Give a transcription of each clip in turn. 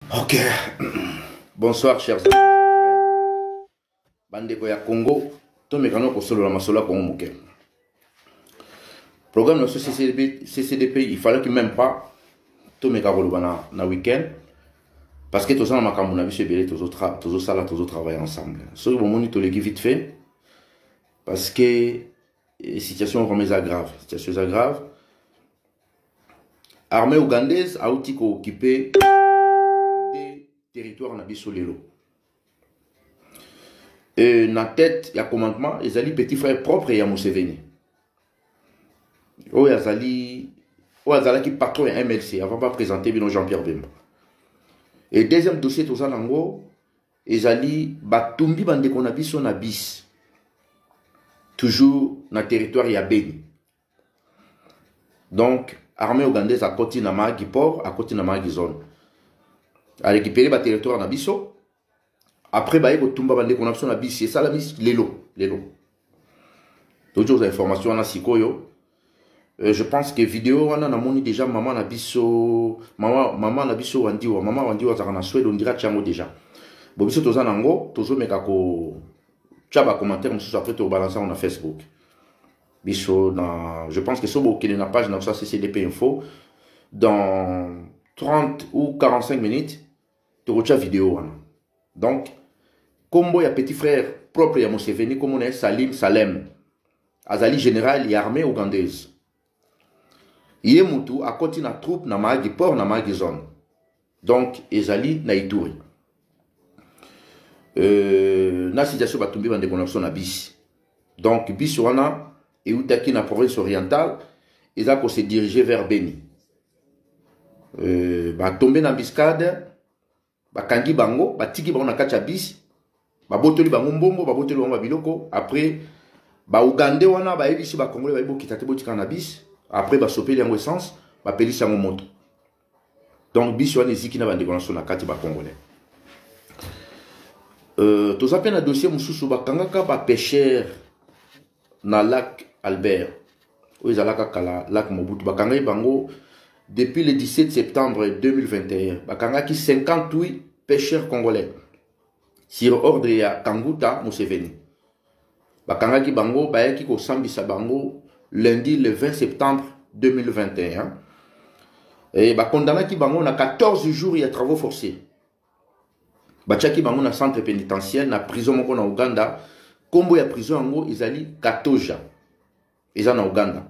ok bonsoir chers bandeko ya congo tomekana kosolola masolo ya congo moke programme na so CCDP, ccdp il fallait que même pas tomeka koloba na, na week-end parce que toza na makambo na biso ebele tozosala tozotravaille ensemble soki bomoni toleki vite fait parce que eh, situation vraiment eza grave situation eza grave armée ougandaise auti kookipe de territoire na biso lelo e, na tete ya commandement ezali petit frère propre ya museveni oyo azali oyo azalaki patron ya mlc avant baprésente bino jean pierre bemba e deuxième dossier toza nango ezali batumbi bandeko na biso na bisi toujours na territoire ya beni donc armée ougandaise akoti na mahagi port akoti na mahagi zone arécupere baterritoire na biso après baye kotumba bandeko na biso na bisi esalami lelo lelo toki ozwa information wana sikoyo Euh, je pense que vidéo wana namoni déjà maman na biso maman maman na biso wandiwa maman wandiwa azalaka na swede on dirait yango déjà bon biso toza nango tozomeka ko tya ba commentaire mosusu après tobalansa yango na facebook biso na je pense que so bokende na page na biso ya ccdp info dans 30 ou 45 minutes tokotya video wana donc nkombo ya petit frère propre ya moseveni nkombo na ye salim salem azali général ya armée ougandaise ye mutu akoti na troupe na maagi port na maagi zone donc ezali na ituri euh, na situation batumbi bandeko na biso na bisi donc bisi wana eutaki na province orientale eza ko se diriger vers beni euh, batombe na mbiscade bakangi bango batiki bango na kati ya bisi babotoli bango mbongo babotoli bango babiloko après baugande wana bayebisi bakongole bayebi bokita te botikana na bisi après basopeli yango essence bapelisi yango moto donc bisi wana eziki na bandeko na biso na kati bacongolais euh, toza mpe na dossier mosusu bakangaka bapêcheur na lac albert oyo ezalaka kala lac mobutu bakangaki bango depuis le 17 septembre 2021 bakangaki 58 pêcheurs congolais sur ordre ya kanguta museveni bakangaki bango bayaki kosambisa bango lundi le 20 septembre 2021 e, bakondanaki bango na 14 jours ya travaux forcés batiaki bango na centre pénitentiaire na prison moko na uganda nkombo ya prison yango ezali katoja eza na Ouganda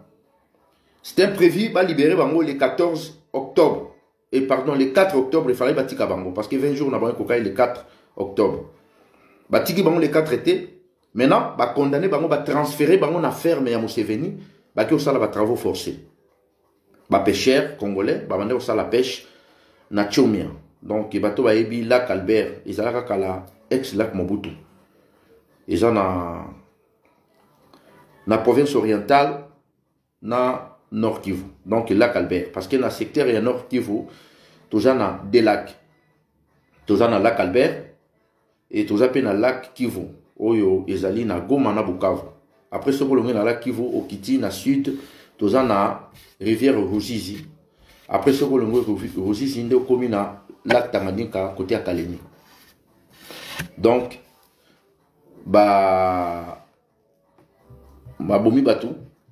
c'est imprévu ba libérer bango le 14 octobre et pardon le 4 octobre il fallait batika bango parce que 20 jours na bango kokai le 4 octobre batiki bango le 4 été maintenant ba condamner bango ba transférer bango na ferme ya Museveni baki osala ba travaux forcés ba pêcheurs congolais ba bande osala pêche na Chomia donc bato bayebi lac Albert ezalaka kala ex lac Mobutu eza na na province orientale na nord kivu donc lac albert parce que na secteur ya nord kivu toza na deux lac toza na lac albert e toza mpe na lac kivu oyo ezali na goma na bukavu après soki olongi na lac kivu okiti na sud toza na rivière ruzizi après soki olongi ruzizi nde okomi na lac tanganyika kote ya kalemi donc ba babomi bato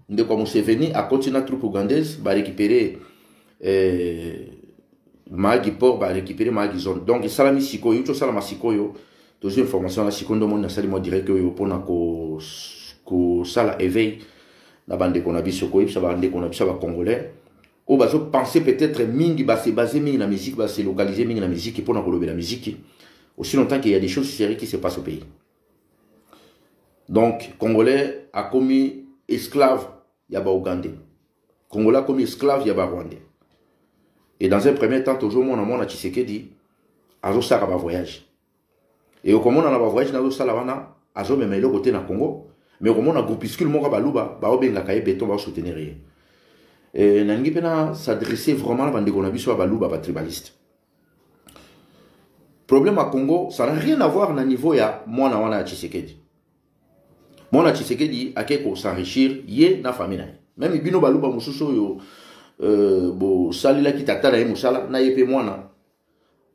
ndeko ya museveni akoti na troupe ougandaise barécupere eh, maagi port barécupere maagi zone donc esalami sikoyo euti osalama sikoyo tozwi information wana sikoyo nde omoni nasali mwa direct oyo mpona kosala ko éveil na bandeko na biso koyebisa bandeko na biso ya bacongolais oyo bazo penser peut-être mingi ba se baser mingi na musique ba se localiser mingi na musique pona kolobela musique aussi longtemps qu'il y a des choses sérieuses qui se passent au pays donc congolais a commis esclave ya ba ougandais congolais a commis esclave ya ba rwandais et dans un premier temps tozomona mwana tshisekedi azosaka ba voyage Et au Comona, la voyage n'a pas wana, azo même eloko te na Congo. Mais au Comona, groupuscule moko baluba, ba obenga kaye béton, ba soutenir ye. Et nangi pena s'adresser vraiment à bande kona biso baluba, ba tribaliste. Problème à Congo, ça n'a rien à voir na niveau ya mwana wana ya Tshisekedi. Mwana Tshisekedi ake ko s'enrichir ye na famille na ye. Même bino baluba mususu yo euh, bo salila ki tata na ye musala na ye pe mwana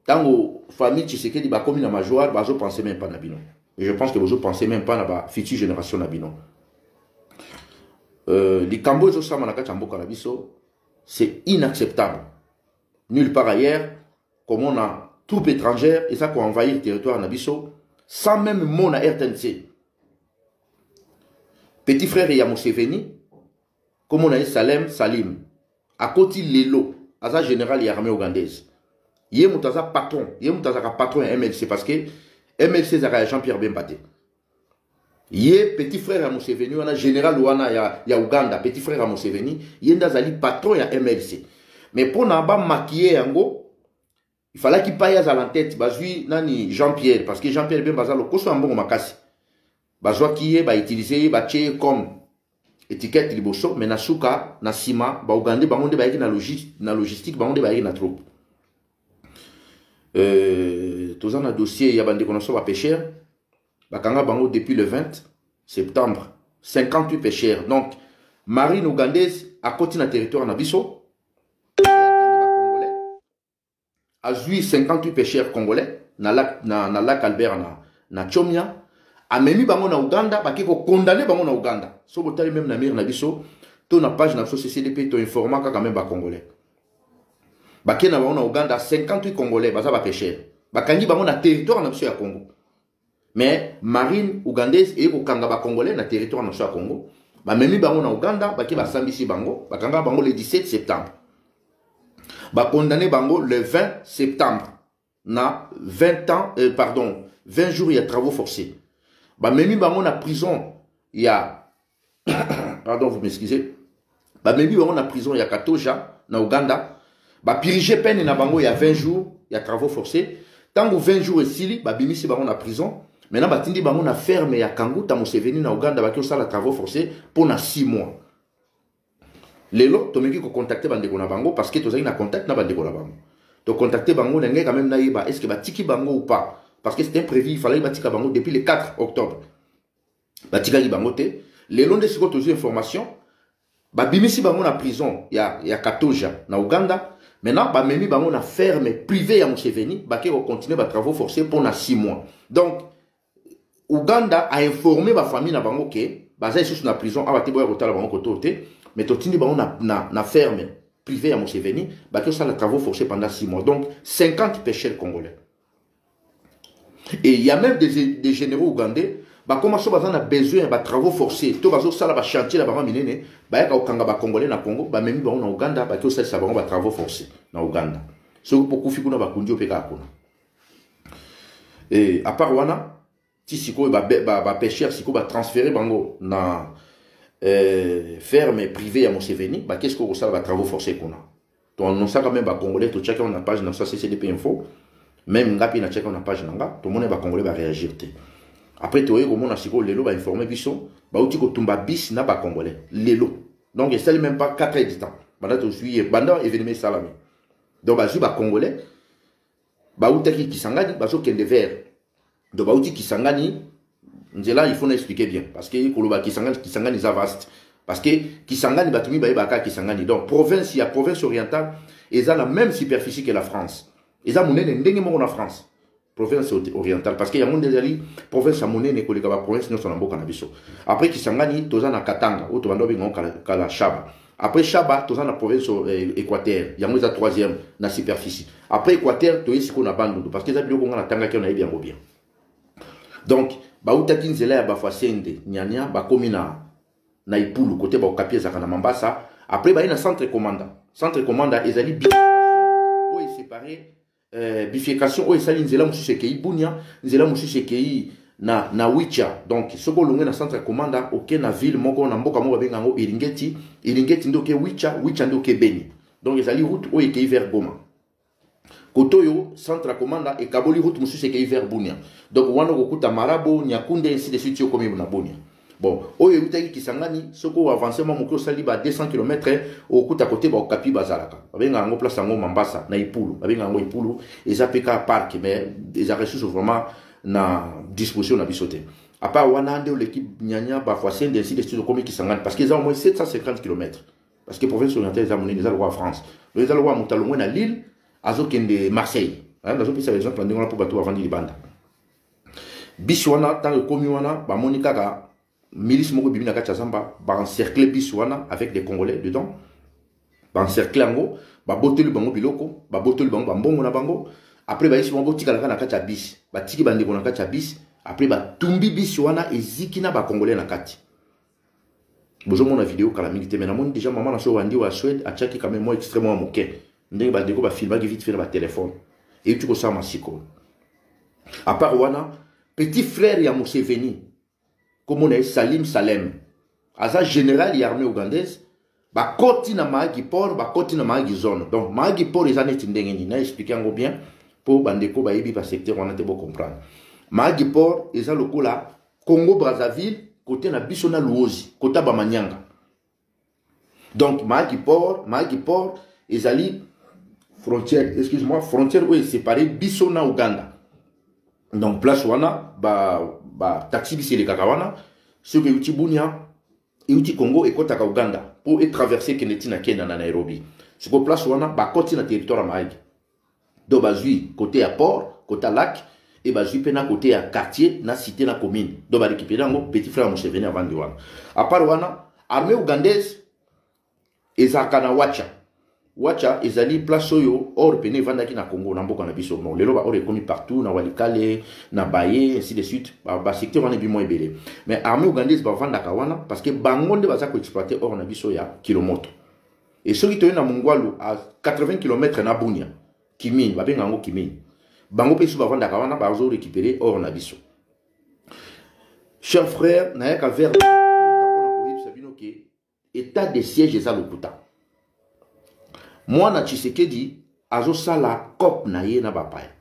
Tango famille Tshisekedi bakomi na majoire bazo penser même pas na bino. Et je pense que bozo penser même pas na ba future génération na bino. Euh, likambo ezo sama na kati ya mboka na biso c'est inacceptable. Nulle part ailleurs comme on a troupe étrangère et ça ko envahir territoire na biso sans même mot na RTNC. Petit frère ya Museveni Kombo na ye Salem Salim. Akoti lelo aza general ya armée ougandaise. Ye moto aza patron, ye moto azaka patron ya MLC parce que MLC ezaka ya Jean-Pierre Bemba te. ye petit frère ya museveni wana général wana ya, ya uganda petit frère ya museveni ye nde azali patron ya mlc mais mpo na bamakiye yango Il fallait qu'il paye à l'entête, bazui nani Jean-Pierre parce que Jean-Pierre Bemba za lokoso ya mbongo makasi. Bazwa kiye ba utiliser ye ba tie comme étiquette liboso mais na suka na sima ba Ougandais bango nde bayaki na logistique na logistique bango nde bayaki na troupe. Euh toza na dossier ya bande konoso ba pêcheurs bakanga bango depuis le 20 septembre 58 pêcheurs donc marine ougandaise akoti na territoire na biso azui 58 pêcheurs congolais na lac, na, na lac albert na, na chomia amemi bango na uganda bake kokondane bango na uganda so botali meme na mire na biso to na page na biso ccdp toinforma kaka meme bacongolais bake na bango na uganda 58 congolais baza bapeshere bakangi bango na territoire na biso ya congo mais marine ougandaise eye kokanga bacongolais na territoire na biso ya congo bamemi bango na ouganda bake basambisi bango bakanga bango le 17 septembre bakondane bango le 20 septembre na 20 ans euh, pardon 20 jours ya travaux forcés bamemi bango na prison ya pardon vous m'excusez bamemi bango na prison ya katoja na uganda bapirige pene na bango ya 20 jours ya travaux forcés ntango 20 jours esili babimisi bango na prison maintenant batindi bango na ferme ya kanguta moseveni na uganda baki osala travaux forcés mpo na 6 mois lelo tomeki kocontacte bandeko na bango parce que tozalaki na contact na bandeko na bango tocontacte bango na ngai quand même nayeba est ce que batiki bango ou pas parce que c'était prévu il fallait batika bango depuis le 4 octobre batikaki bango te lelo nde sikoyo tozwi information babimisi bango na prison ya, ya katoja na uganda maintenant bamemi bango na ferme privé ya museveni bake kocontinue batravaux forcé mpo na 6 mois donc uganda ainforme bafamille na bango ke baza lisusu na prison awa te boya kotala bango koto te mais totindi bango na, na, na ferme privé ya museveni bake kosala travaux forcé pendant 6 mois donc 50 pecheurs congolais Et il y a même des, des généraux ougandais bakoma so baza na besoin ya batravaux forcés to bazosala bachantier na bango minene bayaka kokanga bacongolais na congo bamemi bango na uganda baki osalisa bango batravaux forcés na uganda soki pokufi kuna bakundi yo mpe kaka kuna e, apart wana ti sikoyo ba, ba, ba pêcheurs sikoyo ba transférer bango na euh, ferme privée ya Museveni ba qu'est-ce qu'on sala ba travaux forcés kuna to annonçaka même ba congolais to tchaka na page na ça CCDP info même ngapi na tchaka na page na nga to mona ba congolais ba réagir te après toye komona sikoyo lelo ba informer biso ba uti ko tumba bis na ba congolais lelo donc et ça même pas 4 heures du temps banda to suiye banda événement salami donc ba ba congolais ba utaki kisangani ba so kende vers donc bauti kisangani nzela il faut na expliquer bien parce que koloba kisangani kisangani eza vaste parce que kisangani bato mibale baka kisangani donc province ya province orientale eza na même superficie que la france eza monene ndenge moko na france province orientale parce que yango nde ezali province ya monene koleka baprovince nyonso na mboka na biso après kisangani toza na katanga oyo tobanda obengango kala shaba après shaba toza na province euh, équateur yango eza troisième na superficie après équateur toye sikoyo na bandundu parce que eza biloko nga natangaki oyo nayebi yango bien donc bautaki nzela ya bafasende nyanya bakomi na na ipulu kote baokapi ezalaka na mambasa après baye na centre commanda centre commanda ezali bi oyo esepare euh, bifurcation oyo esali nzela mosusu ekei bunia nzela mosusu ekei na, na wicha donc soki olongwe na centre ya komanda oke na ville moko na mboka moko babenga yango iringeti iringeti nde oke wicha wicha nde oke beni donc ezali route oyo ekei vers goma kote oyo centre ya komanda ekaboli route mosusu ekei vers bunia donc wana okokuta marabo nyakunde ainsi de suite yo okomi na bunia bon oyo eutaki kisangani soki oavance mwa moke osali ba 200 km okuta kote baokapi bazalaka babenga yango place yango mambasa na ipulu babenga yango ipulu eza mpe kaka parke mais ezalaka lisusu vraiment na disposition na biso te apart wana nde oleki nyanya bafoisende ainsi de suite okomi kisangani parce que eza au moins 750 km parce que province orientale eza monene eza lokola france donc eza lokola moto alongwe na lille azokende marseille nazopesa exemple ndenge wana mpo bato bavandi libanda bisi wana ntango ekomi wana bamoni kaka milice moko ebimi na kati ya zamba baencercle bisi wana avec des congolais dedans baencercle yango babotoli bango biloko babotoli bango bambongo na bango après bayisi bango botikalaka na kati ya bisi batiki bandeko na kati ya bisi après batumbi bisi wana eziki na bacongolais na kati bozo mona video kala mingi te mais namoni déjà maman na so wandi wa Suède atiaki quand même moi extrêmement à moke ndenge ba deko ba filmaki vite fait na ba téléphone et tu ko sama siko à part wana petit frère ya Museveni comme on est Salim Salem aza général ya armée ougandaise bakoti na mahagi port bakoti na mahagi zone donc mahagi port eza neti ndenge nini na explike yango bien mpo bandeko bayebi basecteur wana te bocomprendre mahagi port eza lokola congo brazzaville kote na biso na luozi kota bamanyanga donc mahagi port mahagi port ezali frontière excuse moi frontière oyo esepare biso na uganda donc place wana bataxi ba, ba biso elekaka wana soki euti bunia euti Congo ekotaka Ouganda po e traverser kende ti na Kenya na Nairobi. Sikoyo place wana bakoti na territoire ya Mahagi. Donc bazwi cote ya port, cote ya lac et bazwi pe na cote ya quartier na cité na commune. Donc ba récupérer yango petit frère ya Museveni avandi wana. A part wana armée ougandaise ezalaka na wacha wacha ezali place oyo or pene evandaki na congo na mboka na biso bon lelo baor ekomi partout na walikale na baye ainsi de suite basecteur wana ebimo ebele mais armée ougandaise bavandaka wana parce que bango nde baza koexploite or na biso ya kilomoto e soki toye na mongwalu a 80 km na bunia kimini babenga yango kimini bango mpe biso bavandaka wana bazo récupérer or na biso cher frère nayaka vers etat de siège eza lokuta mwana tshisekedi azosala cop na ye na bapaya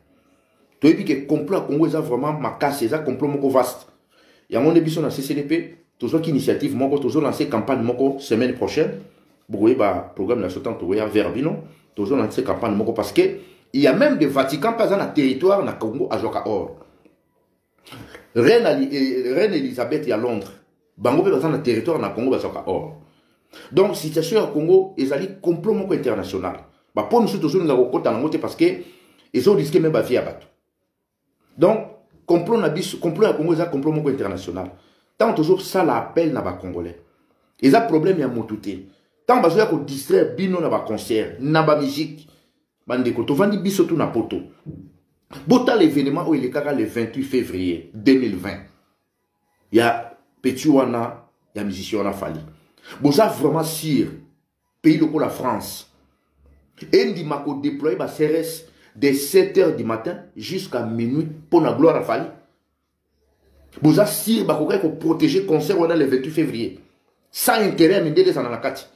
toyebi ke complot ya congo eza vraiment makasi eza complot moko vaste yango nde biso na ccdp tozwaki initiative moko tozolanse campagne moko semaine prochaine bokoyeba programme na biso ntango tokoya vers bino tozolanse campagne moko parce que il y a même de vatican mpe aza na territoire na congo azwaka or reine, eh, reine elisabeth ya londres bango mpe baza na territoire na congo bazwaka or donc situation ya congo ezali complot moko international bapo mosusu tozolinga kokota nango te parce que ezo riske me bavie ya bato donc complot na biso complot ya congo eza complot moko international ntango tozosala appel na bacongolais eza problème ya motu te ntango bazoya kodistraire bino na baconcert na bamusike bandeko tovandi biso tu na poto botala evenement oyo elekaka le 28 février 2020 ya petit wana ya musicien wana fali boza vraiment sur pays lokola france endima kodéploye baseres de 7 heures du matin jusqu'à minuit mpo na gloire ya fali boza sur bakokaki koprotege concert wana le 28 février sans intérêt ya mindele ezala na kati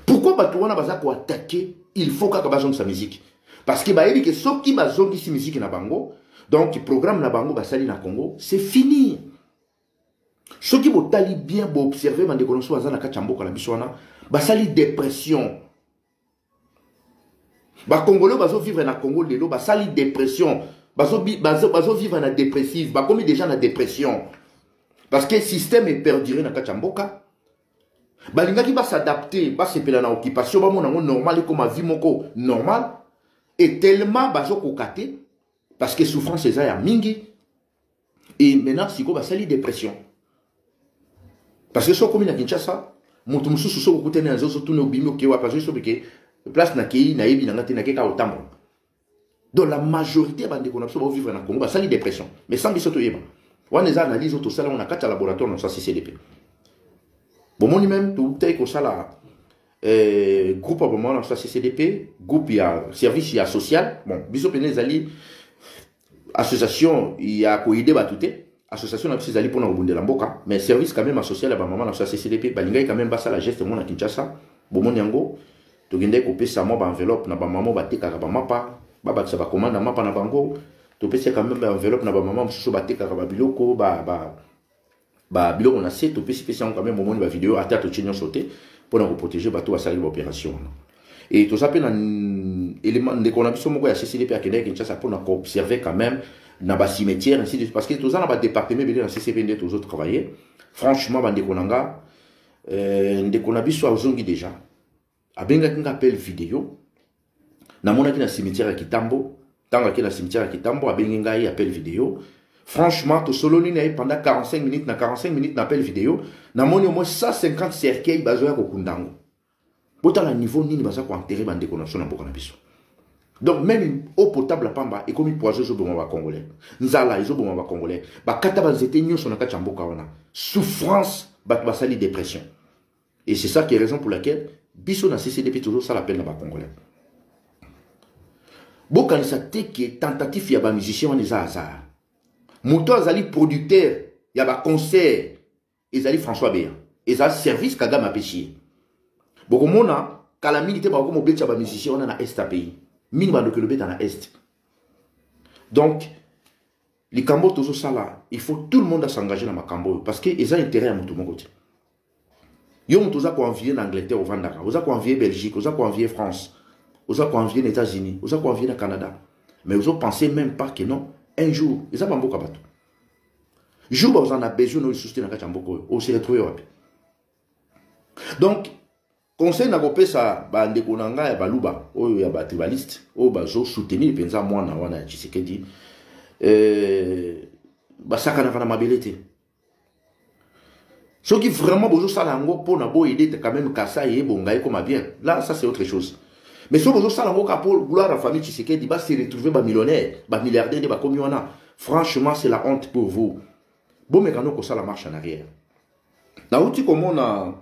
pourquoi bato wana baza koatake il faut kaka bazongisa miziki parce que bayebi ke soki bazongisi miziki na bango donc programme na bango basali na congo c'est fini soki botali bien boobserve bandeko na biso baza na kati ya mboka na biso wana basali depression bakongole bazovivre na congo lelo basali depression bazovivre bazo, bazo na depressive bakomi deja na depression parce que système eperdure na kati ya mboka balingaki basadapte basepela na occupation bamona yango normal ekoma vie moko normal e tellement bazokoka te parce que souffrance eza ya mingi e maintenant sikoyo basali dépression parce que soki okomi na kinshasa moto mosusu soki okutani na nzoso tuna obimi oke wapi azoki soki ke place nakei nayebi na ngai te nakei kaka kotambola donc la majorité ya bandeko na biso baovivre na congo basali dépression mais sans biso toyeba wana eza analyse oyo tosala yango na kati ya laboratoire na biso ya ccdp bomoni meme toutaki kosala eh, groupe ya bomona na biso ya ccdp groupe ya service ya social bon biso mpena ezali association ya koide bato te Association na biso ezali pona kobundela mboka mais service quand même a social ya ba maman na biso ya CCDP balingaki quand même basala geste mona Kinshasa bomoni yango tokendaki kopesa mwa ba enveloppe na ba maman batekaka ba mapa babakisa ba commande ya mapa na bango topesi quand même ba enveloppe na ba maman mosusu batekaka ba biloko ba ba ba biloko na se topesi pesi yango quand même bomoni ba video ata totie nyonso te pona koprotege bato basalaki ba opération wana et toza mpe na elema ndeko na biso moko ya ccd mpe akendaki kinshasa mpo na koobserve quand même na bacimetière ainsi de suite parce que toza na badepartement ebele na ccp nde tozo travailler franchement bandeko na nga euh, ndeko na biso azongi déjà abengaki nga appel video namonaki na cimetière ya kitambo ntango ake na cimetière ya kitambo abengi ngai appel video franchement tosololi na ye pendant 45 minutes na 45 minutes na appel video namoni omoi 150 cercueil bazoya kokunda yango botala niveau nini baza koentere bandeko na biso na mboka na biso donc meme eau potable ya pamba ekomi poison ezoboma bacongolais nzala ezoboma bacongolais bakata banzete nyonso na kati ya mboka wana souffrance bato basali dépression et c'est ça qui est raison pour laquelle biso na ccdp tozosala pene na bacongolais bokanisa te ke tentative ya bamusicien wana eza hasard moto azali producteur ya baconcert ezali françois beya eza service kagame apesi ye bokomona kala mingi te bakokoma obetisa bamusicien wana na est ya pays mingi bandoki elobeta na est donc likambo oyo tozosala il faut tout le monde asengage na makambo oyo parce que eza intérêt ya moto moko te yo moto oza koenvie na angleterre ovandaka oza koenvie belgique oza koenvie france oza koenvie na états-unis oza koenvie na canada mais ozopense même pas que non un jour eza bamboka bato jour bakozala na besoin no lisusu te na kati ya mboka oyo oseretrouve wapi donc conseil nakopesa bandeko na ngai ya baluba oyo ya batribaliste oyo bazosoutenir mpenza mwana wana ya tshisekedi euh, basakanaka na mabele te soki vraiment bozosala yango mpo na boyede quand même kasai ebonga ekoma bien là ça c'est autre chose mais soki bozosala yango kaka mpo gloire ya famille tshisekedi base retrouve bamillionnaire bamilliardaire nde bakomi wana franchement c'est la honte pour vous bomeka no kosala marche en arrière nauti komona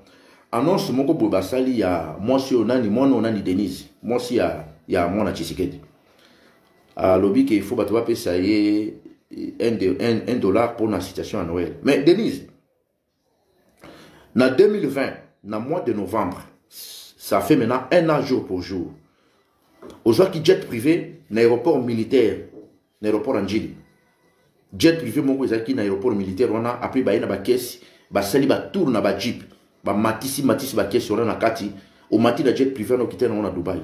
annonce moko boye basali ya mwasi oyo nani mwana oyo nani denise mwasi ya, ya mwana tshisekedi alobi ke il faut bato bapesa ye un, de, un, un dollar mpo na situation ya noel mais denise na 2020 na mois de novembre ça fait maintenant un an jour pour jour ozwaki jet privé na aéroport militaire na aéroport ya njili jet privé moko ezalaki na aéroport militaire wana apres baye na bakesi basali batour na bajeep bamatisi matisi bakesi wana na kati omati na jet privé wana okita nango na dubai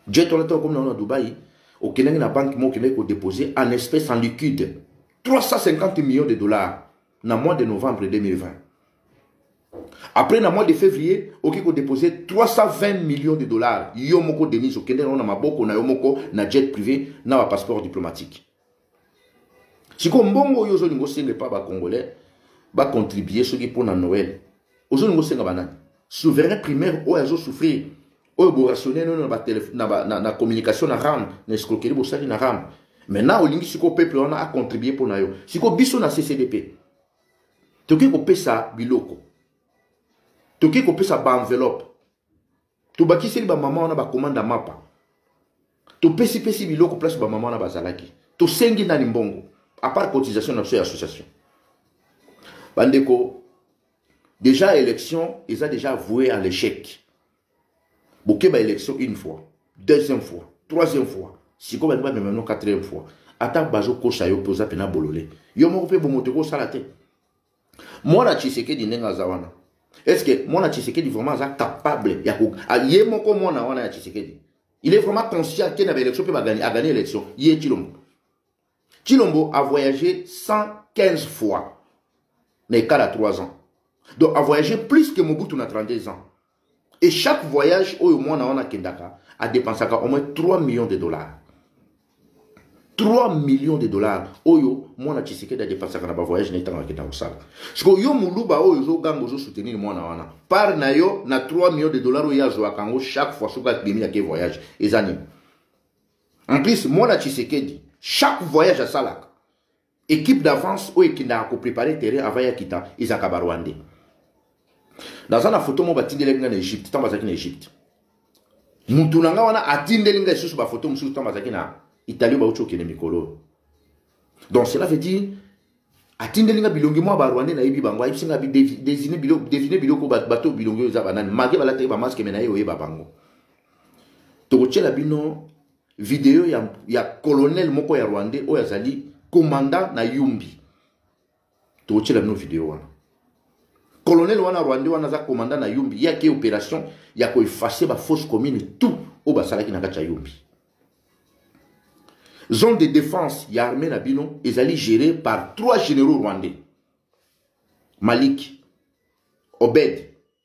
jet wana ntango okomi nango na dubai okendaki na banque moko okendaki kodepose en espèce en liquide 350 millions de dollars na mois de novembre 2020 après na mois de février okoki kodepose 320 millions de dollars yo moko denise okendaki nango na maboko na yo moko na jet privé na bapasseport diplomatique sikoyo mbongo oyo ozolinga osenga epa bacongolais bacontribue soki mpo na noel ozolinga osenga banani souverain primaire oyo azosouffrir oyo borationnel oyo na, na, na, na communication na ram na escroquerie bosali na ram maintenant olingi sikoyo peuple wana acontribue mpo na yo sikoyo biso na ccdp tokoki kopesa biloko tokoki kopesa baenveloppe tobakiseli bamama wana bakomanda mapa topesipesi biloko place bamama wana bazalaki tosengi nani mbongo apart cotisation na biso ya association bandeko déjà élection eza déjà avoué à l'échec bokeba élection une fois deuxième fois troisième fois sikoyo balingi bamema no quatrième fois ata bazokosa yo mpe oza mpena bolole yo moko mpe bomoto ekosala te mwana tshisekedi ndenge aza wana estce mwana tshisekedi vraiment aza capable ya ye moko mwana wana ya tshisekedi il est vraiment conscient ake na baélection mpe agani élection ye tshilombo tshilombo a voyagé 115 fois na ekala 3 ans donc a voyagé plus que mobutu na 32 ans Et chaque voyage oyo mwana wana akendaka a dépensaka au moins 3 millions de dollars. 3 millions de dollars oyo mwana Tshisekedi a dépensaka na ba voyage na ntango akenda kosala. Siko yo muluba oyo ozo ganga ozo soutenir mwana wana. Par na yo na 3 millions de dollars oyo azwaka yango chaque fois soki akimi na ke voyage eza nini? En plus mwana Tshisekedi chaque voyage asalaka Equipe d'avance oyo ekendaka ko preparer terrain avant ya kita ezalaka ba Rwandais. Naza na photo moko batindelaki nga na Egypte ntango bazalaki na Egypte. Mutu na nga wana atindeli nga lisusu ba photo mosusu ntango bazalaki na Italie bauti okende mikolo oyo. Donc cela veut dire atindeli nga bilongi mwa ba Rwandais nayebi bango ayebisi nga désigner biloko désigner biloko bato bilongi oyo eza banani malgré balataki ba masque mais naye oyeba bango. Tokotyela bino video ya, ya colonel moko ya rwandais oyo azali commandant na yumbi tokotyela bino video wana colonel wana rwandais wana aza commandant na yumbi ye ake opération ya koefase bafausse commune tout oyo basalaki na kati ya yumbi zone de défense ya armée na bino ezali géré par trois généraux rwandais malik obed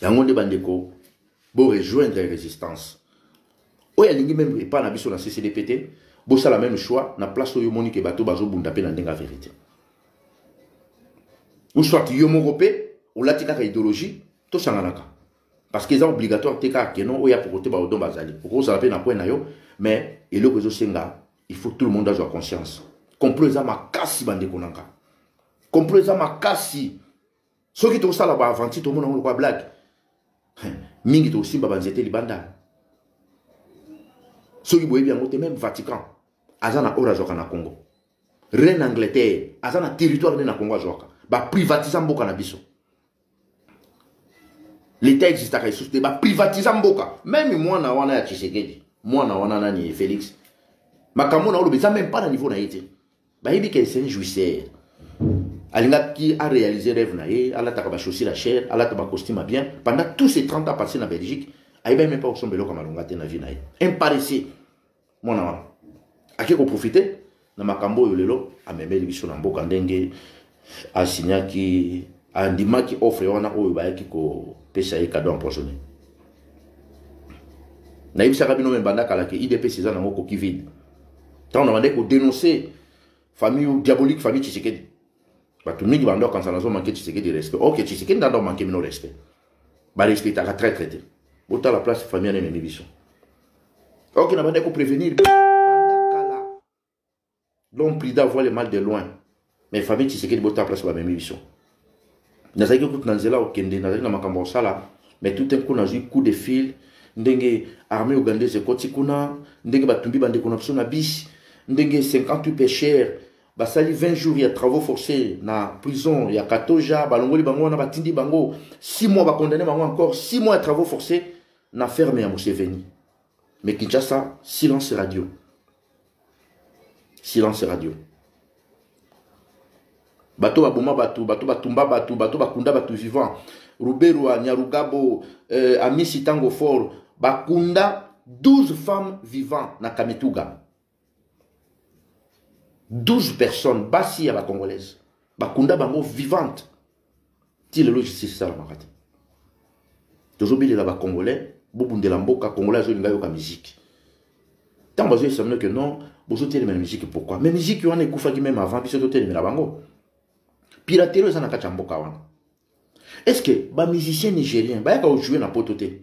yango nde bandeko bo rejoindre resistance oyo alingi meme epa na biso na ccdp te bosala meme choix na place oyo omoni ke bato bazobunda mpe na ndenge ya verite ou soit yo moko mpe olati kaka idéologie tosanganaka parce que eza obligatoire te kaka keno oyo akokote baodon bazali okozala mpe na coin na yo mais eloko ezosenga il faut tout le monde azwa conscience complot eza makasi bandeko na ngai complot eza makasi soki tokosala baaventure tomona yango lokola blague mingi tokosimba banzete libanda soki boyebi yango te meme vatican aza na oyo azwaka na congo reine angleterre aza na territoire nde na congo azwaka baprivatisa mboka na biso leta existaka lisusu te baprivatisa mboka meme mwana wana ya tshisekedi mwana wana nani félix makambo na oloba eza meme pas na niveau na ye te bayebi ke c'est un jouisseur alingaki aréalise rêve na ye alataka bachaussure ya cher alata bacostume ya bien pendant tous ces 30 ans passé na belgique ayebaki meme pas kosomba eloko ya malonga te na vie na ye un paresseux mwana wana ake koprofite na makambo oyo lelo amemeli biso na mboka ndenge asinyaki andimaki offre wana oyo bayaki kopesa ye kado empoisonne nayebisaka bino me banda kala ke idps eza nango koki vide ntango na bandaki kodenonce famille diabolique famille tshisekedi bato mingi banda okanisa nazo manke tshisekedi respect ok tshisekedi ndanda omanke bino respect barespectaka traitre te botala place famille anene ni biso Ok, na bande ko prévenir. L'homme prudent voit le mal de loin. Mais famille Tshisekedi bota place ba memi biso. Nazaki kutu na nzela okende, nazaki na makambo osala, mais tout un coup nazui coup de fil ndenge armée ougandaise ekoti kuna, ndenge batumbi bandeko na biso na bisi, ndenge 58 pêcheurs basali 20 jours ya travaux forcés na prison ya katoja balongoli bango wana batindi bango 6 mois bakondane bango encore 6 mois ya travaux forcés Na ferme ya Museveni. Mais Kinshasa, silence radio. Silence radio. Bato baboma bato, bato batumba bato, bato bakunda bato vivant. Ruberwa, Nyarugabo, euh, Amisi Tango Fort, bakunda 12 femmes vivant na Kamituga. 12 personnes basi ya ba congolaise bakunda bango vivante ti lelo justice esalamaka te tozobelela ba congolais bobundela mboka congolais azolinga yoka miziki ntango bazoesamino ke non bozotelemela miziki pourkui mais miziki wana ekufaki meme avant biso totelemela bango piratelo eza na kati ya mboka wana est ce que bamusicien nigérien bayaka ojoue na poto te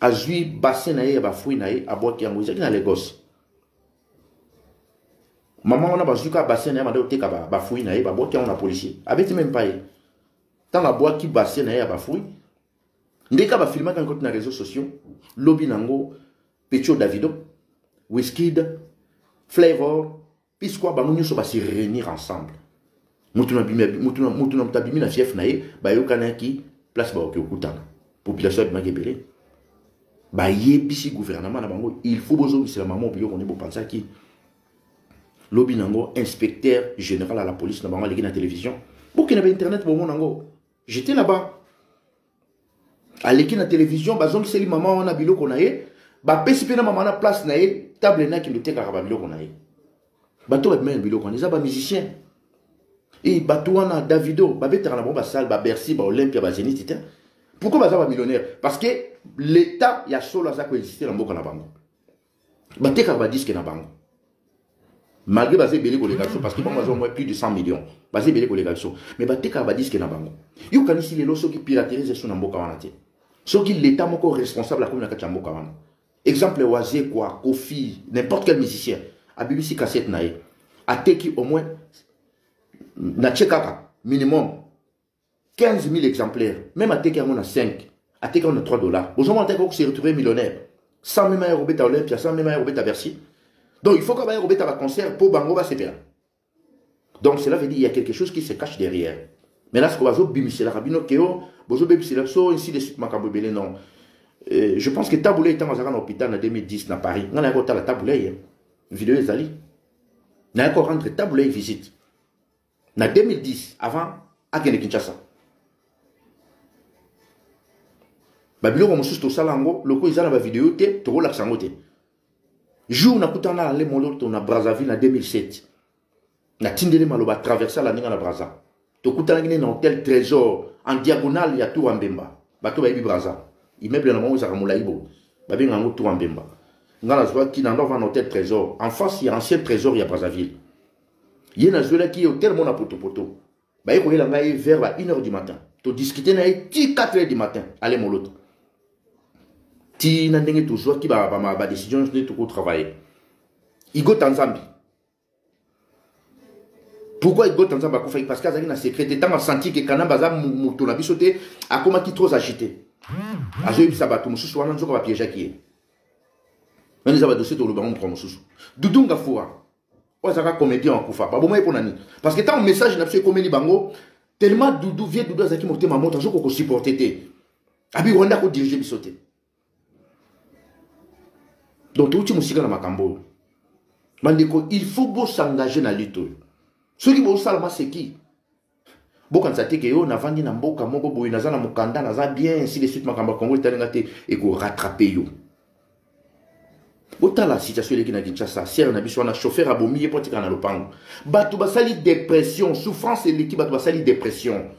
azwi bassin na ye ya bafruit na ye abwaki yango ezalaki na lagos mama wana bazwi kaka bassin na ye banda koteka bafruit na ye babwaki yango na policier abeti meme pa ye ntango abwaki bassin na ye ya bafruit ndenge kaka bafilmaki yango na réseaux sociaux lobi na yango pecho davido wiskid flavor Pisqua bango nyonso ba se réunir ensemble. Mutu na bimi mutu na mutu na mutu abimi na fief na ye bayokanaki place bakoki kokutana. Population abimaki ebele. Bayebisi gouvernement na bango il faut bozongisela mamo biloko nde bopansaki lobi nango inspecteur général à la police na bango aleki na télévision bokende ba internet bomona yango j'étais là-bas aleki na television bazongiseli mama wana biloko na ye bapesi mpe na mama wana place na ye table na kende otekaka babiloko na ye bato babimai na biloko wana eza bamusicien e bato wana davido babetaka na bango basale babercy baolympia bazeniti te pourkoi baza bamillionnaire parce que l'état ya solo aza koexiste na mboka na bango batekaka badiske na bango malgré baza ebele koleka biso parce que bango baza moins plus de 100 millions baza ebele koleka biso mais batekaka badiske na bango yokanisi lelo soki piraterie eza so na mboka wana te soki leta moko responsable akomi na kati ya mboka wana exemple wazekwa kofi n'importe quel musicien abibisi cassette na ye ateki au moins natie kaka minimum 15000 exemplaires meme ateki yango na 5 ateki yango na 3 dollars bozomona te akoki se retrouver millionnaire sans meme aya kobeta olympia sans meme aya kobeta bercy donc il faut kaka baya kobeta baconcert mpo bango basepela donc cela veut dire il y a quelque chose qui se cache derrière mais là sikoyo bazobimiselaka bino keo bozobebisela biso ainsi de suite makambo ebele non euh, je pense que tabulei ntango azalaka na hôpital na 2010 na paris ngai nayaki kotala tabulei video ezali nayaki korendre tabulei visite na 2010 avant akende kinshasa babiloko mosusu tosala yango loko eza na bavideo te tokolakisa yango te jour nakutana na ale moloto na brazzaville na 2007 natindeli maloba traversa la ninga na braza tokutanaki nde na hotel trésor en diagonale ya tour ya mbemba bato bayebi braza immeuble na bango ezalaka molai bo babenga yango tour ya mbemba ngai nazwaki na ndova na hotel trésor en face ya ancien trésor ya brazzaville ye nazwelaki ye hotel mona potopoto baye koyela ngai ye vers ba 1 heure du matin todiskute na ye ti 4 heure du matin ale molota ti na ndenge tozwaki badécision nyonso nde tokotravaille igota nzambe pourquoi igota nzambe akufaki parce que azalaki na secret te ntango asanti ke kanambe aza moto na biso te akomaki trop agité azoyebisa bato mosusu wana nzoka bapiégeaki ye wana eza badossier toloba ngo mokolo mosusu dudunga fura oyo azalaka comédien akufa baboma ye mpo na nini parce que ntango message na biso ekomeli bango tellement dudu vie dudu azalaki motema moto azoki kokosupporte te abi rwanda akodirige biso te donc touti mosika na makambo oyo bandeko il faut bosengage na lutte oyo soki bosala maseki bokanisa te ke yo navandi na mboka moko boye naza na mokanda naza bien ainsi de suite makambo ya kongo etali nga te ekorattrape yo botala situation eleki na kinshasa sere na biso wana chauffeur abomi ye mpo atikala na lopango bato basali depression souffrance eleki bato basali depression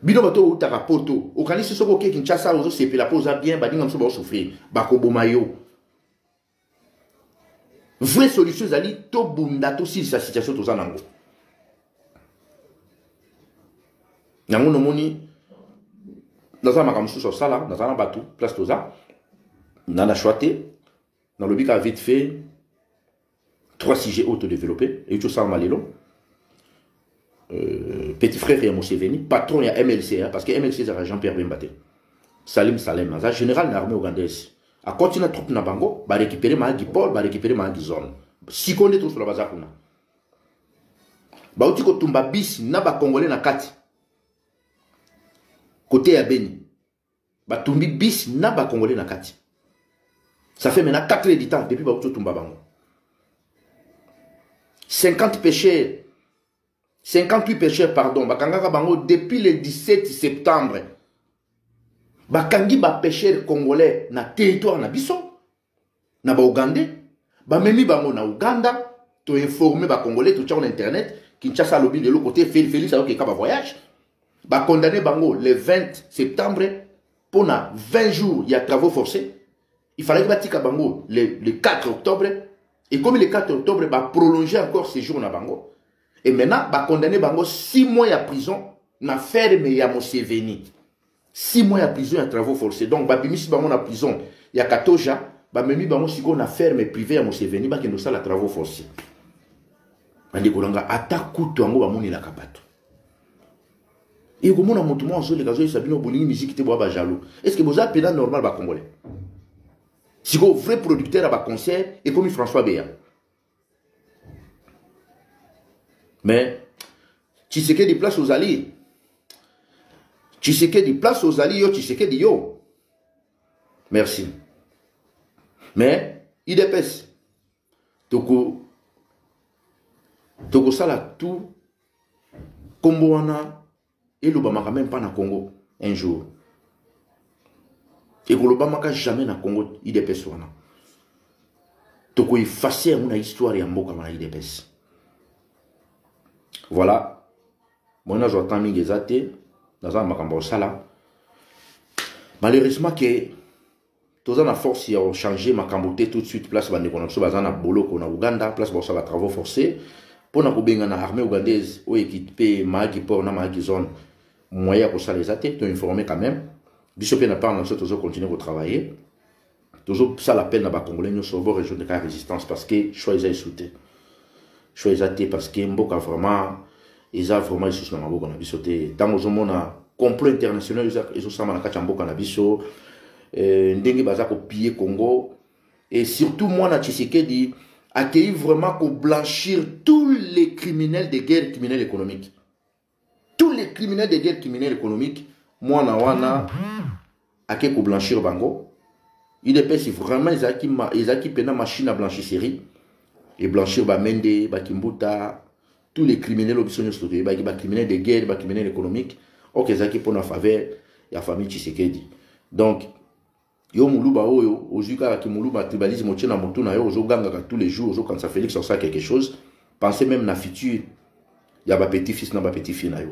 bino bato oyo outaka poto okanisi soki oke kinshasa ozosepela mpo oza bien baninga mosusu baosouffrir bakoboma yo vraie solution ezali tobunda tosilisa situation toza nango yango nomoni naza na makambo mosusu ya kosala naza na bato place toza na na choix te nalobi kaka vite fait trois sujet oyo todeveloppe euti osalama lelo Euh, petit frère ya Museveni, patron ya MLC, hein, parce que MLC ezalaka Jean-Pierre Bemba te. Salim Salem, aza général na armée ougandaise. Akoti na troupe na bango, ba récupérer Mahagi Paul, ba récupérer Mahagi Zone. Siko nde tosolo baza kuna. Bauti kotumba bisi na ba Congolais na kati. Kote ya Beni. batumbi bis na ba congolais na kati ça fait maintenant 4 heures du temps depuis bakuti otumba bango 50 pêcheurs 58 pêcheurs pardon bakangaka bango depuis le 17 septembre bakangi bapêcheurs congolais na territoire na biso na ba ougandais bamemi bango na uganda toinforme bacongolais totyako na internet kinshasa alobi lelo kote félix ayokeka bavoyage bacondamne bango le 20 septembre mpo na 20 jours ya travaux forcés il fallaki batika bango le, le 4 octobre ekomi le 4 octobre baprolonge encore séjour na bango e maintenant bacondamne bango 6 mois ya prison na ferme ya moseveni 6 mois ya prison ya travaux forcés donc babimisi bango na prison ya katoja bamemi bango sikoyo na ferme privé ya moseveni bakende kosala travaux forcés bandeko na nga ata kutu yango bamonelaka bato ekomona motu mwa azoleka azoyesa bino bolingi miziki te boya bajaloux est ce que boza mpena normal bacongolais sikoyo vrai producteur ya baconcert ekomi françois beya mais tshisekedi place ozali tshisekedi place ozali yo tshisekedi yo merci mais idps toko tokosala tout nkombo wana elobamaka meme pas na congo un jour ekolobamaka jamais na congo idps wana tokoefase yango na histoire ya mboka wana idps voilà moi nazwa temps mingi eza te naza na makambo ya kosala malheureusement ke toza na force ya changer makambo te tout de suite place bandeko na biso baza na boloko na Ouganda place bakosala ba travaux forcés mpo na kobengana armée ougandaise oyo ekiti mpe maaki port na maaki zone moyen ya kosala eza te to informe quand même biso mpe na part na biso tozo continuer kotravaille tozosala appel na bacongolais nyonso bo rejoindre ka résistance parce que choix eza esu te choix eza te parce que mboka vraiment eza vraiment lisusu na maboko na biso te ntango ozomona complot international ezosama na kati ya mboka na biso euh, ndenge baza kopille congo et surtout mwana tshisekedi akei vraiment koblanchir tous les criminels de guerre criminel économique tous les criminels de guerre criminel économique mwana wana ake koblanchir bango udps vraiment ezalaki ezalaki mpena machine ya blanchisserie eblanchir bamende bakimbuta tous les criminels oyo biso nyonso toyebaki bacriminel de guerre bacriminel économique oke ezalaki mpo na faveur ya famille tshisekedi donc Yo muluba oyo ozui kaka ki muluba tribalisme otie na mutu na yo ozo gangaka tous les jours ozo kanisa Felix asala quelque chose pensez même na futur ya ba petit fils na ba petit fille na yo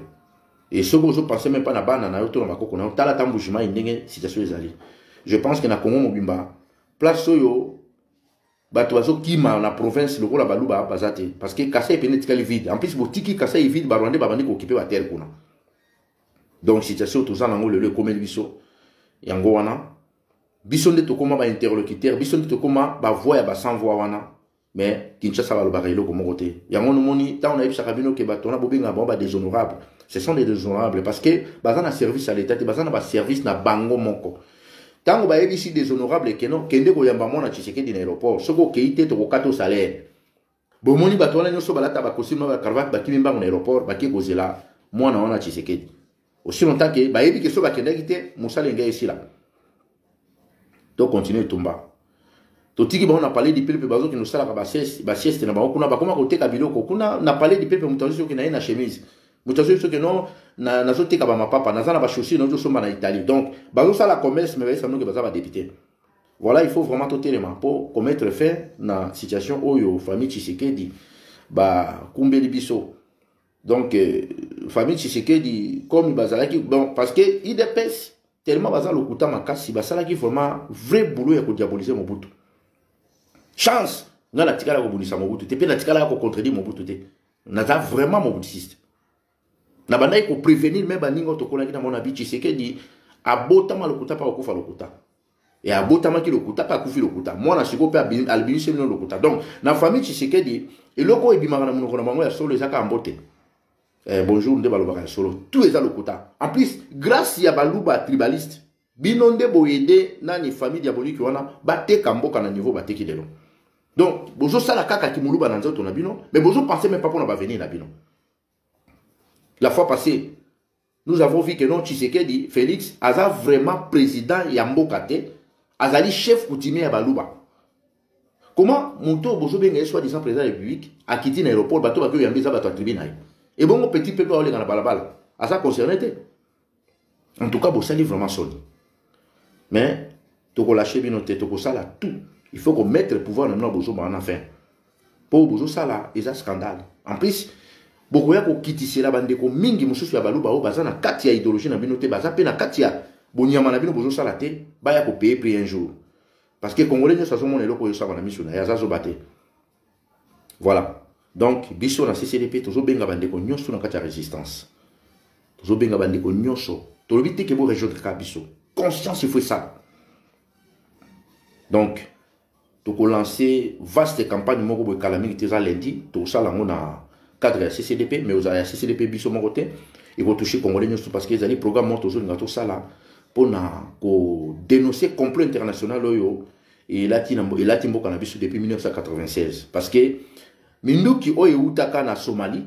et soki ozo penser même pas na bana na yo to na bakoko na yo tala ta mbushima ndenge situation ezali je pense que na Congo mobimba place oyo bato bazokima na province lokola baluba baza te parce que kasai epene etikali vide en plus botiki kasai vide barwandais babandi kokipe batere kuna donc situation toza nango lelo ekomeli biso yango wana biso nde tokoma ba interlocuteur biso nde tokoma ba voix ya ba sans voix wana mais kinshasa balobaka eloko moko te yango nomoni ntango nayebisaka bino ke bato wana bobengaka bango badéshonorable ce sont des déshonorables parce que baza na service ya leta te baza na baservice na bango moko ntango bayebisi déshonorable keno kende koyamba mwana tshisekedi na aéroport soki okei te tokokata osalaire bomoni bato wana nyonso balata bakosime na bacravate bakimi mbango na aéroport bake kozela mwana wana tshisekedi aussi longtemps ke bayebi ke so bakendaki te mosala engai esila tocontinue etumba totiki bango na palais du peuple bazokende kosalaka basieste na bango kuna bakoma koteka biloko kuna na palais du peuple moto azoki na ye na chemise moto azoki soki no nazoteka bamapapa naza na bachaussure nazosomba na italie donc bazosala commerce me bayesa noki baza badepute Voilà, il faut vraiment totelema pour commettre fin na situation oyo famille Tshisekedi ba kumbeli biso. Donc euh, famille Tshisekedi comme bazalaki bon parce que IDPS tellement baza lokuta makasi basalaki vraiment vrai boulot ya ko diaboliser Mobutu. Chance nga natikala kobundisa Mobutu te mpe natikalaka kocontredire Mobutu te. Naza vraiment mobutiste. Na bandaki ko prevenir mais baninga oyo tokolaki na mona bi Tshisekedi abotama lokuta pa okufa lokuta. Et abotamaki lokuta pe akufi lokuta. Mwana siko pe albinise bino lokuta. Donc na famille Tshisekedi eloko ebimaka na monoko na bango ya solo ezaka ambote. Eh, bonjour nde balobaka ya solo. Tout eza lokuta. En plus grâce ya baluba tribaliste bino nde boyede nani famille diabolique wana bateka mboka na niveau bateki lelo. Donc bozosala kaka kimuluba na nzoto na bino mais bozo penser même pas pona ba venir na bino. La fois passée, nous avons vu que non Tshisekedi, Félix, aza vraiment président ya mboka te, azali chef coutumier ya Baluba. Comment moto oyo bozobenga ye soi-disant président ya République akiti na aéroport bato bato oyambi eza bato ya tribu na ye. Ebongo petit peuple aolenga na balabala aza concerné te. En tout cas, bosali vraiment soni. Mais, toko lâcher bino te, toko sala tout. Il faut qu'on mette le pouvoir na bino bozo ba na fin. Po bozo sala eza scandale. En plus, bokoya kokitisela bandeko mingi mosusu ya baluba oyo baza na kati ya idéologie na bino te baza mpe na kati ya bonyama na bino bozosala te baya kopeye prix un jour parce que congolais nyonso azomona eloko oyo esaba na miso na ye aza zoba te Voilà. Donc, biso na CCDP, tozo benga bandeko nyoso na kati ya resistance. Tozo benga bandeko nyoso. Tolobi te ke bo rejoindre ka biso. Conscience, il faut ça. Donc, toko lancer vaste campagne moko boye kala mingi te eza lundi tokosala yango na cadre ya ccdp mais ozala ya ccdp biso moko te ekotouche congolais nyonso parce que ezali programme moko tozolinga tosala mpona kodénonce complot international oyo elati na elati mboka na biso depuis 1996 parce que minduki oyo ewutaka na Somalie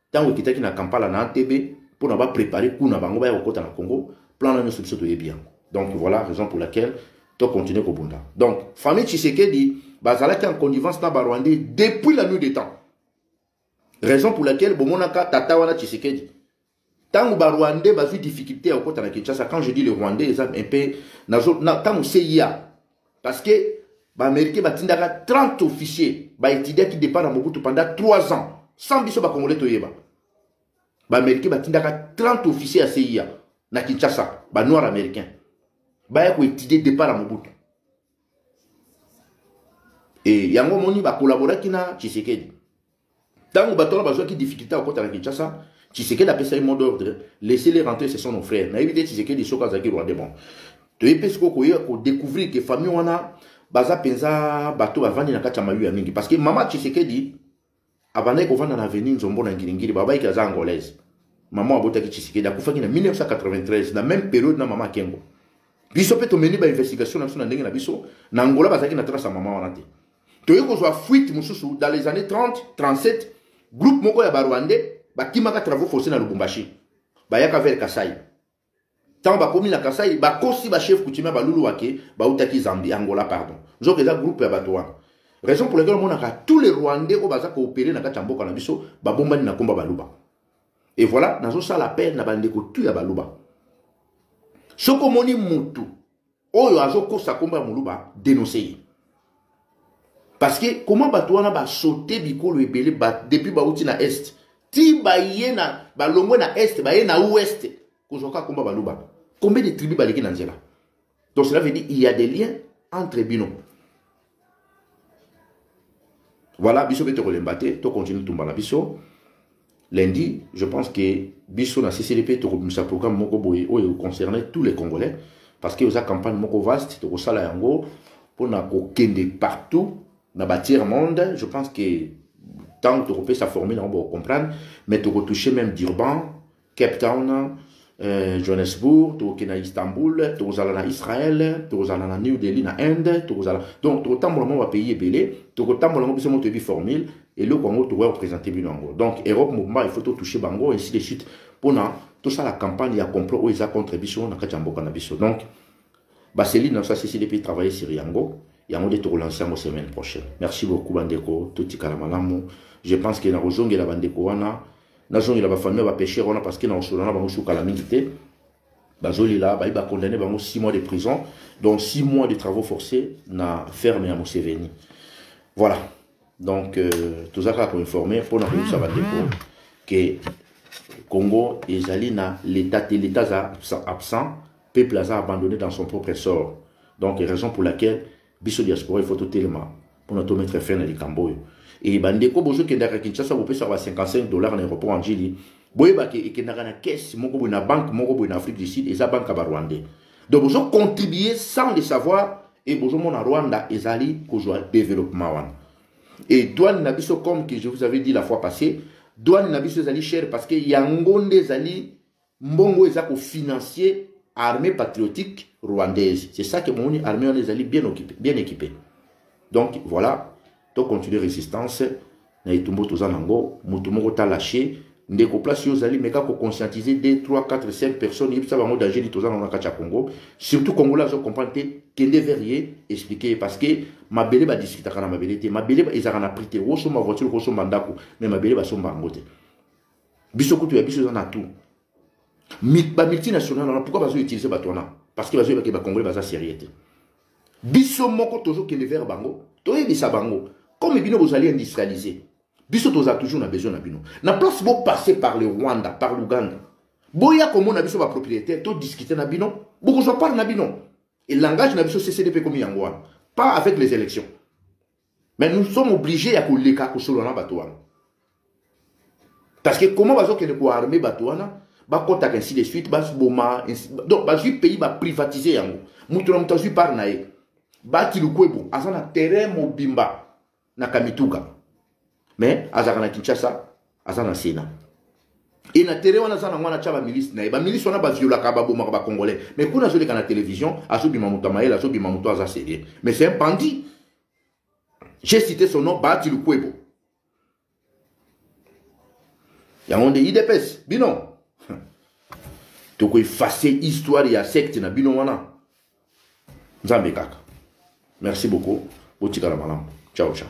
ntango ekitaki na Kampala na ATB mpo na ba préparer kuna bango baya kokota na Congo plan na nyonso biso toyebi yango donc voilà raison pour laquelle to continuer kobunda donc famille Tshisekedi bazalaki en connivence na ba Rwandais depuis la nuit des temps raison pour laquelle bomonaka tata wana Tshisekedi Tango ba Rwandais bazui difficulté ya kokota na Kinshasa, quand je dis le Rwandais, eza un peu nazo na tango CIA parce que ba Américains batindaka 30 officiers ba étudiaki départ na Mobutu pendant 3 ans sans biso ba Congolais toyeba. Ba Américains batindaka 30 officiers ya CIA na Kinshasa, ba noirs américains. Baya ko étudier départ na Mobutu. e yango omoni bakolaboraki na tshisekedi ntango bato wana bazwaki difficulté ya kokota na kinshasa tshisekedi apesa ye mot d'ordre laisser les rentrer ce sont nos frères nayebi te tshisekedi soki azalaki rwandais bon toyebi mpe sikoyo koya kodécouvrir ke famille wana baza mpenza bato bavandi na kati ya mayu ya mingi parce que mama tshisekedi abandaki kovanda na avenue nzombo na ngilingili babaiki aza angolaise mama abotaki tshisekedi akufaki na 1993 na même periode na mama kengo biso mpe tomeni bainvestigation na biso na ndenge na biso na angola bazalaki na trace ya mama wana te toyei kozwa fuite mosusu dans les années 30 37 groupe moko ya barwandais bakimaka travaux forcé na lubumbashi bayaka vers kasai ntango bakomi na kasai bakosi bachef coutumier baluluwa ke bautaki zambi angola pardon nzoka eza groupe ya bato wana raison pour laquelle omonaka tous les rwandais oyo baza koopere na kati ya mboka na biso babombani na nkomba baluba et voilà nazosala appel na bandeko tu ya baluba soki omoni mutu oyo azokosa nkombo ya moluba denonse ye parce que comment bato wana basote bikolo ebele ba, depuis bauti na est ti baye na balongwe na est baye na ouest kozwa kaka nkombo ya baluba combien de tribu baleki na nzela donc cela veut dire il y a des liens entre bino Voilà, biso pe tokolemba te, to continue tumba na biso. Lundi, je pense que biso na CCDP tokobimisa programme moko boye oyo concerne tous les Congolais parce que oza campagne moko vaste tokosala yango pona kokende partout na ba tiers monde, je pense que tant tokopesa formule yango bokocomprendre, mais tokotouche même Durban, Cape Town, eh, Johannesburg, tokokende na Istanbul, tokozala na Israël, tokozala na New Delhi na Inde, tokozala donc tokotambola mwa ba pays ebele, tokotambola ngo biso moko toyebi formule eloko yango tokoya kopresente bino yango donc europe mobimba il faut totouche bango ainsi de suite mpona tosala campagne ya complot oyo eza contre biso na kati ya mboka na biso donc baselile na biso asesili mpe travaille sur yango yango nde tokolanse yango semaine prochaine merci beaucoup bandeko totikala malamu je pense ke nakozongela bandeko wana nazongela ba famille ba pêcheurs wana parce que na osola na bango sukala mingi te bazolela bayi ba condamner bango 6 mois de prison donc 6 mois de travaux forcés na ferme ya Museveni voilà donc euh, toza kaka koinforme mpona koyebisa bandeko ke congo ezali na l'état te l'état aza absent peuple aza abandonné dans son propre sort donc raison pour laquelle biso diaspora il faut totelema mpona to mettre fin na likambo oyo e bandeko bozokendaka kinshasa bopesaka ba 55 dollars na aéroport anjili boyebaki ekendaka na caisse moko boye na banque moko boye na afrique du sud eza banque ya barwandais donc bozocontribue sans le savoir e bozomona rwanda ezali kozwa développement wana e douane na biso comme que je vous avais dit la fois passée douane na biso ezali cher parce que yango nde ezali Mbongo eza ko financier armée patriotique rwandaise. C'est ça que Mouni armée on est bien occupé, bien équipé. Donc voilà, to continuer résistance na etumbo toza nango, mutu moko ta lâché ndeko place yo ozali meka ko conscientiser 2 3 4 5 personnes yebisa bango danger nini toza nango na kati ya Congo. Surtout Congolais azo comprendre te kende vers ye expliquer parce que mabele ba discutaka na mabele te, mabele ezalaka na prix te, osomba voiture, osomba ndako, mais mabele basomba yango te. biso kutu ya biso eza na tout bamultinational wana pourkoi bazoutilize bato wana parce que bazoyebaki bacongolais baza sérieux te biso moko tozokende vers bango toyebisa bango comme bino bozali industrialise biso toza toujours na besoin na bino na place bopasse par le rwanda par l'ouganda boya komona biso bapropriétaire todiscute na bino bokozwa part na bino elangage na biso ccdp ekomi yango wana pas avec les élections mais nous sommes obligés ya koleka kosolola na bato wana parce que comment bazokende koarme bato wana bakɔtaka ainsi de suite baboma donc bazwi pays baprivatise yango moto na moto azwi part na ye bati lukwebo aza na terrain mobimba na kamituka mais azalaka na kinshasa aza na sénat e na tere wana aza nango wana atya bamilisi na ye bamilisi wana baviolaka babomaka bacongolais mais kuna azoleka na télévision azobima moto ya mayele azobima moto aza sérieux mais c'est un bandit j'ai cité son nom baati lukwebo yango nde idps bino tokoefase histoire ya secte na bino wana nzambe kaka merci beaucoup botikala malamu ciao ciao